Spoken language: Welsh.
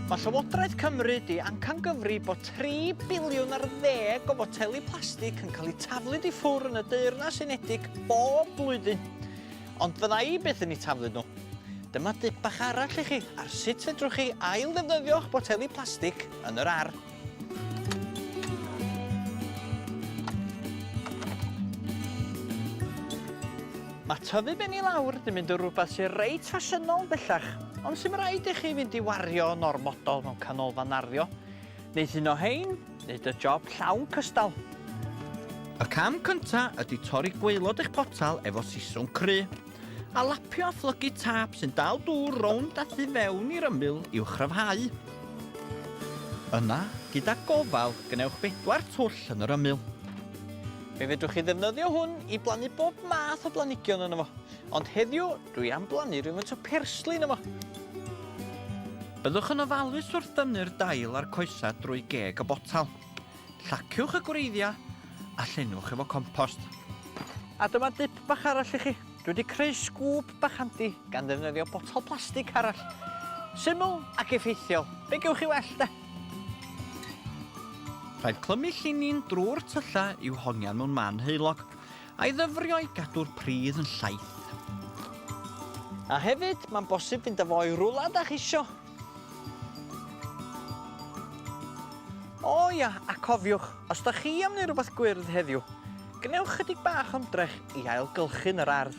Mae Llywodraeth Cymru di amcangyfri bod 3 biliwn ar ddeg o foteli plastig yn cael eu taflu di ffwr yn y Deyrnas Unedig bob blwyddyn. Ond fydda i byth yn eu taflu nhw. Dyma dip bach arall i chi ar sut fedrwch chi ail ddefnyddio'ch boteli plastig yn yr ar. Mae tyfu ben i lawr 'di mynd yn rhywbeth sy'n reit ffasiynol bellach, ond sy'n rhaid i chi fynd i wario yn ormodol mewn canolfan arddio. Wneith un o hein wneud y job llawn cystal. Y cam cyntaf ydy torri gwaelod eich potel efo siswm cry. A lapio a phlygu tap sy'n dal dŵr rownd a thu fewn i'r ymyl i'w chryfhau. Yna, gyda gofal, gwnewch bedwar twll yn yr ymyl. Fe fedrwch chi ddefnyddio hwn i blannu bob math o blanhigion yno fo, ond heddiw dwi am blannu rhyw faint o persli yno fo. Byddwch yn ofalus wrth dynnu'r dail a'r coesau drwy geg y botel. Llaciwch y gwreiddiau a llenwch efo compost. A dyma dip bach arall i chi. Dwi wedi creu sgŵp bach handi gan ddefnyddio botel plastig arall. Syml ac effeithiol. Be gewch chi well de? Rhaid clymu llinyn drwy'r tyllau i'w hongian mewn man heulog, a'i ddyfrio i gadw'r pridd yn llaith. A hefyd, mae'n bosib fynd â fo i rwla da chi isio. O ia, a cofiwch, os da chi am neu rwbath gwyrdd heddiw, gwnewch chydig bach ymdrech i ailgylchu'n yr ardd.